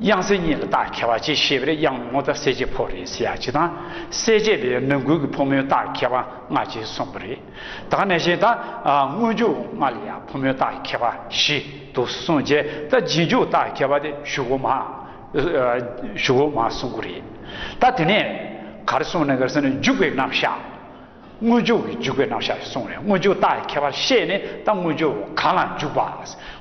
དབྱངས་གསལ་གཉིས་ལ་རྟགས་ཁྱད་པ་ཅི་ཞེས་པས་དབྱངས་སྔོ་རྟ་གསལ་བྱེད་ཕོ་རེད་ཟེར་ཡ་གཅིག་དང་གསལ་བྱེད་ལས་ནང་ཁུལ་གྱི་ཕོ་མོའི་རྟགས་ཁྱད་པ་ལྔ་ཅེས་གསུངས་པ་རེད་ད་ནས་བཤད་ད་སྔོན་འཇུག་ལྔ་ལ་ཡང་ཕོ་མོའི་རྟགས་ཁྱད་པ་བཞི་འདུག་གསུངས་རྗེས་ད་རྗེས་འཇུག་རྟགས་ཁྱད་པ་དེ་བཞུགས་གོ་མ་བཞུགས་གོ་མ་གསུངས་ཀྱི་རེད་ད་དེ་ནས་གར་གསུངས་ནས་གར་གསུངས་ནས་འཇུག་པའི་རྣམ་གཞག་དངོས་འབྱོར་གྱི་འཇུག་པའི་རྣམ་གཞག་གསུངས་བས་དངོས་འབྱོར་རྟགས་ཀྱི་ཁྱད་པར་ཤེས་ནས་ད་དངོས་འབྱོར་གང་ལ་འཇུག་པ།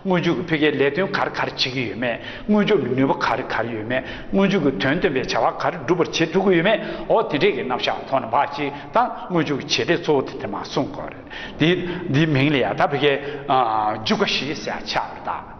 དངོས་འཇུག་གི་ཕི་གའི་ལས་དོན་གར་གར་བྱེད་ཀྱི་ཡོད་མེད་དངོས་འབྱོར་གྱི་ནུས་པ་གར་གར་ཡོད་མེད་དངོས་འཇུག་གི་དོན་སྟོན་པའི་བྱ་བ་གར་སྒྲུབ་པར་བྱེད་ཐུབ་ཀྱི་ཡོད་མེད་འོ་དེ་འདྲས་ཀྱི་རྣམ་གཞག་ཐོག་ནས་འབའ་ཞིག་ད་དངོས་འཇུག་གི་བྱེད་ལས་གཙོ་བོ་དེ་དེ་མ་གསུངས་གོ། འདིའི་འདིའི་མིང་ལ་ཡང་ད་ཕི་གའི་འཇུག་ཀ་ཞེས་ཟེར་བ་ཆགས་པར་གདའ།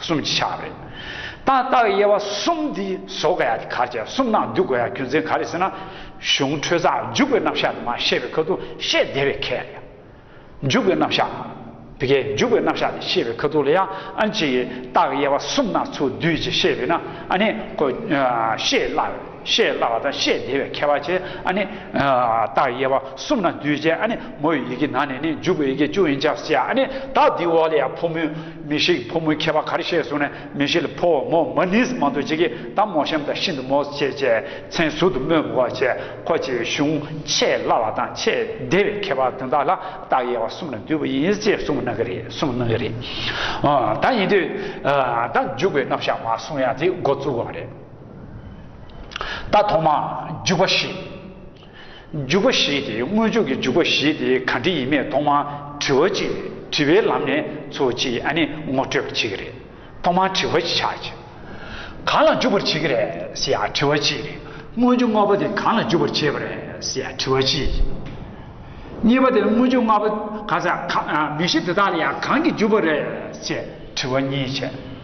གསུམ་གྱི་ཕྱག་རེད། ཏག་ཏག་དབྱེ་བ་གསུམ་འདི་བཟོ་དགོས་ཡ་དེ་གར་བྱས་གསུམ་ནང་བསྡུ་དགོས་ཡ་རྒྱུ་མཚན་ག་རེད་ཟེར་ན། གཞུང་འཕྲོས་རྩ་འཇུག་པའི་རྣམ་གཞག་དུ་མ་ཤེས་པའི་ཁ་ཐུག་ཤེས་བདེ་བའི་ཁེ་ཡ། འཇུག་པའི་རྣམ་གཞག། དེ་གའི་འཇུག་པའི་རྣམ་གཞག་དེ་ཤེས་པའི་ཁ་ཐུག་ལ་ཡ་ཨན་ཅིག་ཏག་དབྱེ་བ་གསུམ་ནང་ཚུལ་བསྡུས་ཀྱིས་ཤེས་བས་ན་ཨ་ནི་ཤེས་སླ། ཤེས་སླ་བ་དང་ཤེས་བདེ་བའི་ཁྱད་པར་ཆེ། རྟགས་དབྱེ་བ་གསུམ་ན་འདུས་བྱས་ཨ་ནི་མོ་ཡི་ཡི་གེ་ན་ནས་ནི་འཇུག་པའི་ཡི་གེ་བཅུ་ཡིན་ཆགས་སུ་བྱ། རྟགས་འདིའི་འོག་ལ་ཡང་ཕོ་མོའི་མི་ཤིགས་ཕོ་མོའི་ཁྱད་པར་གར་ཤེས་གསུངས་ནས་མི་ཤིགས་ལ་ཕོ་མོ་མ་ནིས་མང་དུ་བྱེད་ཀྱི་དང་མོ་ཤམ་དང་ཤིན་ཏུ་མོ་བྱེད་ཅེས་མཚན་ཟུར་དུ་སྨོས་པ་བྱེད་ཁོ་ཅེས་གཞུང་ཤེས་སླ་བ་དང་ཤེས་བདེ་བའི་ཁྱད་པར་དོན་དག་ལ་རྟགས་དབྱེ་བ་གསུམ་ན་འདུས་པ་ཡིན་ཅེས་གསུངས་གནང་གི་རེད། ད་ཡིན་དུས་ད་འཇུག་པའི་རྣམ་གཞག་མ་གསུངས་ཡ་དེ་འགོ་བཙུགས་པ་རེད། ད་ཐོག་མ་འཇུག་པ་ཞེས། འཇུག་པ་ཞེས་ཏེ་དངོས་འཇུག་གི་འཇུག་པ་ཞེས་ཏེ་ག་འདྲི་ཡིན་མེད་ཐོག་མ་དྲི་བ་གཅིག་དྲི་བའི་ལམ་ནས་འཚོལ་བ་གཅིག་ཨ་ནི་ངོ་སྤྲོད་པ་གཅིག་རེད་ཐོག་མ་དྲི་བ་གཅིག་ཆགས་ཅིག་གང་ལ་འཇུག་པར་བྱེད་ཀྱི་རེད་ཟེར་ཡ་དྲི་བ་གཅིག་རེད་དངོས་འཇུག་ལྔ་པོ་དེ་གང་ལ་འཇུག་པར་བྱེད་པ་རེད་ཟེར་ཡ་དྲི་བ་གཅིག་རེད། གཉིས་པ་དེ་དངོས་འཇུག་ལྔ་པོ་གང་ཟག་གང་མི་གཞི་དེ་དག་ལ་ཡང་གང་གིས་འཇུག་པ་རེད་ཅེས་དྲི་བ་གཉིས་བྱས།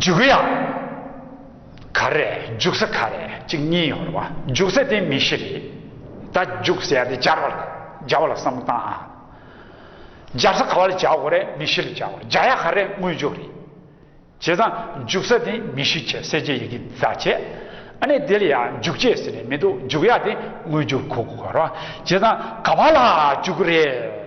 འཇུག་གི་ཡང་ག་རེད་འཇུག་ས་ག་རེད་གཅིག་གཉིས་ཡོད་རེད་བ་འཇུག་ས་དེ་མི་ཤེས་རེད་ད་འཇུག་ས་དེ་སྦྱར་བ་ལ་སྦྱར་བ་ལ་བསམ་བློ་བཏང་ཨ། སྦྱར་ས་ག་བ་ལ་སྦྱར་དགོས་རེད་མི་ཤེས་ལ་སྦྱར་བ་སྦྱར་ཡ་ག་རེད་དངོས་འཇུག་རེད། བྱས་ཙང་འཇུག་ས་དེ་མི་ཤེས་བྱས་གསལ་བྱེད་ཡི་གེ་བཟའ་བྱས་ཨ་ནས་དེ་ལ་ཡ་འཇུག་བྱས་ཟེར་ནས་མི་འདུག་འཇུག་ཡ་དེ་དངོས་འཇུག་གོ་དགོས་རེད་བ་བྱས་ཙང་ག་བ་ལ་འཇུག་རེད།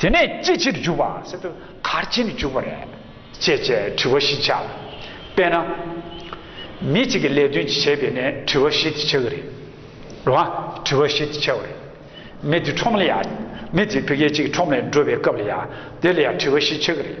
དེ་ནས་ཅི་ཕྱིར་འཇུག་པ་སེམས་དེ་གར་ཕྱིན་ནས་འཇུག་པ་རེད། ཅེས་བྱའི་དྲི་བ་བཞི་བྱ། དཔེར་ན། མི་གཅིག་གིས་ལས་དོན་གྱི་བྱས་པས་ནས་དྲི་བ་བཞི་དེ་བྱ་གི་རེད། རེད་མ། དྲི་བ་བཞི་དེ་བྱ་བ་རེད། མི་དེ་ཁྲོམ་ལ་ཡ། མི་དེ་བུ་སྐྱེས་གཅིག་ཁྲོམ་ལ་འགྲོ་བའི་སྐབས་ལ་ཡ། དེ་ལ་ཡ་དྲི་བ་བཞི་བྱ་གི་རེད།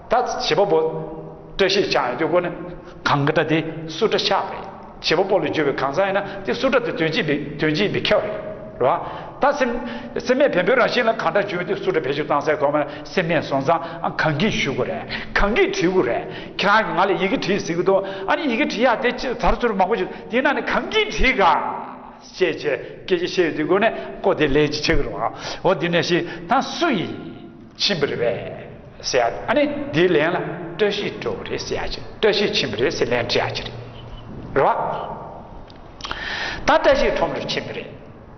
ད་བྱིས་པ་པོ། བཀྲ་ཤིས་ཆགས་ཡོད་དུས་སྒོ་ནས། གང་གི་སྒྲ་དེ་སུ་སྒྲ་ཤག་པ་ཡིན། བྱིས་པ་པོ་ལ་བརྗོད་པའི་གང་ཟག་ཡིན་ན་དེ་སུ་སྒྲ་དེ་དོན་སྤྱི་འདི་དོན་སྤྱི་འདི་ཁྱབ་རེད་ལ། ད་སེམས། སེམས་མེད་བེམ་པོའི་རང་བཞིན་ལ་གང་སྒྲ་བརྗོད་དེ་སུ་སྒྲ་བེད་སྤྱོད་གཏང་སའི་གོ་མེད་ན་སེམས་མེད་སོང་ཙང་ཨ་གང་གིས་ཞུ་དགོས་རེད་གང་གིས་བྲིས་དགོས་རེད་ཁྱེད་རང་གིས་ང་ལ་ཡི་གེ་བྲིས་ཟིན་གི་འདུག་ཨ་ནི་ཡི་གེ་བྲིས་ཡག་དེ་ཅི་ད་རུ་ཚུར་མང་པོ་བྱོས་དེ་ན་ནི་གང་གིས་བྲིས་ག། ཤེས་བྱའི་སྐད་ཆ་བཤད་ཡོད་དུས་སྒོ་ནས་ཀོ་དེ་ལས་ཅི་བྱེད་གི་རུང་ཨ་འོ་དེ་ནས་ཤེས་ད་སུ་ཡིན། ཕྱིན་པ་རེད་བས་ཟེར་ཡ་ཨ་ནི་དེའི་ལན་ལ་བཀྲ་ཤིས་སྤྲོ་བ་རེད་ཟེར་ཡ་ཅི་བཀྲ་ཤིས་ཕྱིན་པ་རེད་ཟེར་ལན་བྲི་ཡ་ཅི་རེད་བ། ད་བཀྲ་ཤིས་ཁྲོམ་རེར་ཕྱིན་པ་རེད་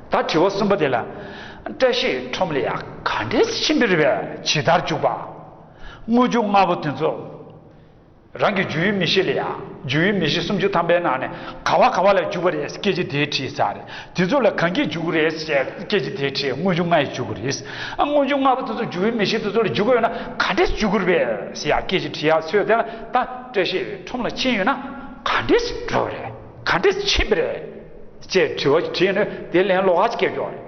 ད་དྲི་བ་གསུམ་པ་དེ་ལ་བཀྲ་ཤིས་ཁྲོམ་ལ་ཡ་ག་འདྲས་ཕྱིན་པ་རེད་བས་ཇི་ལྟར་འཇུག་པ། དངོས་བྱུང་ལྔ་པོ་དེ་ཚོ། རང་གི་རྒྱུ་ཡི་མི་ཤེས་ལ་ཡང་རྒྱུ་ཡི་མི་ཤེས་སུམ་ཅུ་ཐམ་པའི་ནང་ནས་ག་བ་ག་བ་ལ་འཇུག་པ་རེད་སྐད་ཅིག་དེའི་ཁྲིད་ཙག་རེད་དེ་ཚོ་ལ་གང་གིས་འཇུག་རེད་ཟེར་སྐད་ཅིག་དེའི་ཁྲིད་དངོས་བྱུང་ལྔ་ཡིས་འཇུག་རེད་ཨ་དངོས་བྱུང་ལྔ་པོ་དེ་ཚོ་རྒྱུ་ཡི་མི་ཤེས་དེ་ཚོ་ལ་འཇུག་ཡོད་ན་ག་འདྲས་འཇུག་དགོས་རེད་ཟེར་ཡག་སྐད་ཅིག་ཁྲིད་ཡག་ཚོས་དེ་ལ་ད་བཀྲ་ཤིས་ཁྲོམ་ལ་ཕྱིན་ཡོད་ན་ག་འདྲས་འགྲོ་བ་རེད་ག་འདྲས་ཕྱིན་པ་རེད་ཅེས་དྲི་བ་ཞིག་དྲིས་ནས་དེ་ལན་ལོག་ཧ་ཅིག་སྐད་རྒྱོགས་རེད།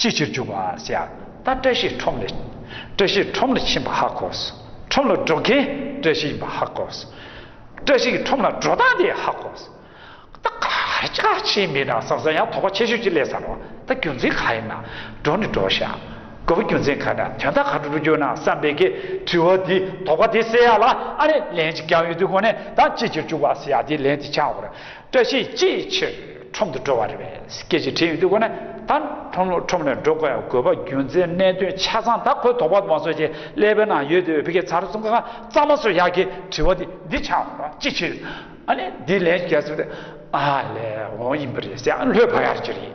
ཅིའི་ཕྱིར་འཇུག་པར་བྱ། ད་བཀྲ་ཤིས་ཁྲོམ་ལ། བཀྲ་ཤིས་ཁྲོམ་ལ་ཕྱིན་པ་ཧ་གོ། ཁྲོམ་ལ་འགྲོ་མཁན་བཀྲ་ཤིས་ཡིན་པ་ཧ་གོ། བཀྲ་ཤིས་ཀྱི་ཁྲོམ་ལ་འགྲོ་སྟངས་དེ་ཧ་གོ། ད་ག་རེ་ཆ་ཆེ་མི་དང་ཟབ་ས་ཡང་དོགས་པ་ཆེ་ཤོས་ཅི་ལས་ཟབ་རོ། ད་རྒྱུ་མཚན་ག་ཡིན་ན་འགྲོ་ནི་འགྲོ་བཞག་དགོས་པ་རྒྱུ་མཚན་ག་འདྲ་དོན་དག་ག་འགྲོ་འགྲོ་གྱུར་ན་བསམ་པའི་གི་དྲི་བ་དེ་དོགས་པ་དེ་སེལ་ཡག་ལ་ཨ་རེ་ལན་ཅིག་ཀྱང་ཡོད་དུས་གོ་ནས་ད་ཅིའི་ཕྱིར་འཇུག་པར་བྱ་དེ་ལན་དེ་ཆགས་འོང་རོ། བཀྲ་ཤིས་ཅི་ཕྱིར་ཁྲོམ་དུ་འགྲོ་བ་རེད་བས་སྐད་ཅིག་དྲན་ཡོད་དུས་ཁོ་ནི་ད་ཁྲོམ་ལོ་ཁྲོམ་ནས་འགྲོ་དགོས་ཡ་དགོས་པ་རྒྱུ་མཚན་གནད་དོན་ཆ་ཚང་ད་ཁོས་དོགས་པ་མ་བཟོ་བྱས་ཀླད་པའི་ནང་ཡོད་དུས་བོད་སྐད་ཚར་གསུམ་ཁ་གཙང་མ་སོ་ཡག་གི་དྲི་བ་དེ་འདི་ཆགས་འོང་བ་ཅི་ཕྱིར་ཨ་ནི་འདི་ལན་བརྒྱ་ཟེར་བ་དེ་ཨ་ལས་འོང་ཡིན་པ་རེད་ཟེར་ཡང་ལྷོད་བབས་ཡག་གི་རེད།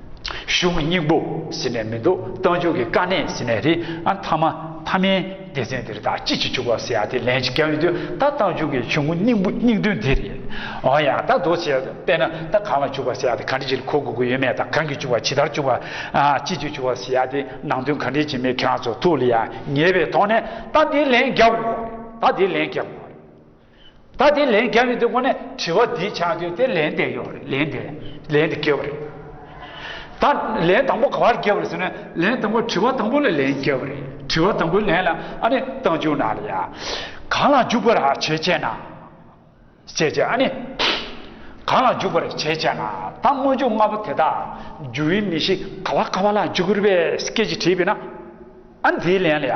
གཞུང་སྙིང་པོ་ཟེར་ནས་མི་འདུག་རྟ་མཆོག་གི་དཀའ་གནས་ཟེར་ནས་རེད་ཨ་མཐའ་མ་མཐའ་མའི་སྡེ་ཚན་དེར་དག་ཅི་ཞིག་བྱུག་པ་ཟེར་ཡ་དེ་ལན་ཅིག་བརྒྱབ་ཡོང་དུས་ད་རྟ་མཆོག་གི་ཆུང་ངུ་སྙིང་པོ་སྙིང་དོན་འདི་རེད་འོང་ཡ་ད་དོགས་བྱས་པས་ན་ད་གང་ལ་བྱུག་པ་ཟེར་ཡ་དེ་ག་འདྲི་ཞིག་གོ་དགོས་ཀྱི་ཡོད་མེད་དང་གང་གིས་བྱུག་པ་ཇི་ལྟར་བྱུག་པ་ཅི་ཞིག་བྱུག་པ་ཟེར་ཡ་དེ་ནང་དོན་ག་འདྲི་བྱེད་མིན་ཁྱེད་རང་ཚོ་ཐུགས་ལ་ཡ་ངེས་པའི་ཐོག་ནས་ད་དེ་ལན་བརྒྱབ་དགོས་པ་རེད་ད་དེ་ལན་བརྒྱབ་དགོས་པ་རེད། ད་དེ་ལན་རྒྱབ་ཡོད་དུས་ཁོ་ནས་དྲི་བ་འདི་ཆགས་དུས་དེ་ལན་འདེབས་ཡོད་རེད་ལན་འདེབས་ལན་འདི་བསྐྱལ་བ་རེད། ད་ལན་དང་པོ་ག་བར་བསྐྱལ་བ་རེད་ཟེར་ན་ལན་དང་པོ་དྲི་བ་དང་པོ་ལ་ལན་བསྐྱལ་བ་རེད་དྲི་བ་དང་པོའི་ལན་ལ་ཨ་ནི་སྟངས་འཇུག་ན་ལ་ཡ། གང་ལ་འཇུག་པར་བྱེད་ཅེ་ན། བྱེད་ཅེ་ཨ་ནི། གང་ལ་འཇུག་པར་བྱེད་ཅེ་ན་ད་སྔོན་འཇུག་ལྔ་པོ་དེ་དག་འཇུག་ཡུལ་མི་ཤིག་ག་བ་ག་བ་ལ་འཇུག་རེད་པས་སྐད་ཅིག་དྲིས་པས་ན་ཨ་ནི་དེའི་ལན་ལ་ཡ།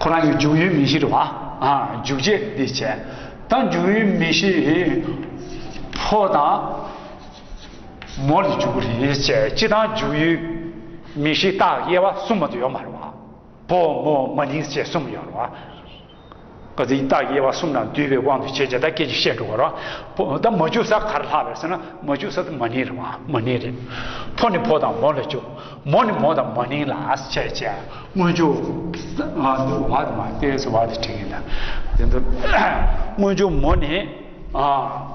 ཁོ་རང་གི་འཇུག་ཡུལ་མི་གཞིར་བ་འཇུག་བྱེད་འདི་བྱས། དང་འཇུག་ཡུལ་མི་གཞི་ཕོ་དང་མོ་ལས་འཇུག་རེ་བྱས་སྤྱི་དང་འཇུག་ཡུལ་མི་གཞི་རྟགས་དབྱེ་བ་གསུམ་མ་དུ་ཡོད་མ་རེད་བ། ཕོ་མོ་མ་ནིང་ཅེས་གསུམ་ཡོད་རེད་བ། བ་དེ་ཡི་རྟགས་ཀྱི་དབྱེ་བ་གསུམ་ན་བསྡུས་པའི་དབང་དུ་བྱས་ཀྱི་ད་སྐད་ཅིག་བཤད་འགྲོ་བ་ར། ད་མ་འཇུག་ས་གར་ལྷག་པའི་ཟེར་ན་མ་འཇུག་ས་དེ་མ་ནིང་རེད་མ་མ་ནིང་རེད། ཕོ་ནི་ཕོ་དང་མོ་ལ་འཇུག་མོ་ནི་མོ་དང་མ་ནིང་ལ་བྱས་བྱས་དངོས་འཇུག་ང་འདི་བ་དེ་མ་དེ་ཟེར་བ་དེ་དྲན་གྱི་འདུག་དེ་འདུག་དངོས་འཇུག་མོ་ནི་ཨ།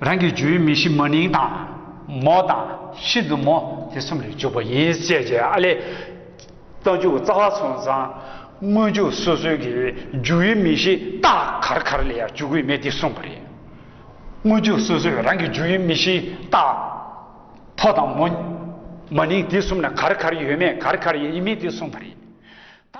རང་གི་རྒྱུད་མི་ཤི་མ་ནིང་དང། མོ་དང། ཤིན་ཏུ་མོ། དེ་གསུམ་ལས་འཇུག་པ་ཡིན་བཤད་བྱས་ཨ་ལས། རྟ་འཇུག་རྩ་བ་ཚོང་བཟང། དངོས་འཇུག་སོ་སོའི་གི་རྒྱུད་མི་ཤི་རྟགས་གར་གར་ལས་ཡང་འཇུག་དགོས་མེད་འདི་གསུངས་པ་རེད། དངོས་འཇུག་སོ་སོའི་རང་གི་རྒྱུད་མི་ཤི་རྟགས། ཕོ་དང་མོ། མ་ནིང་དེ་གསུམ་ན་གར་གར་ཡོད་མེད་གར་གར་ཡིན་མིན་དེ་གསུངས་པ་རེད།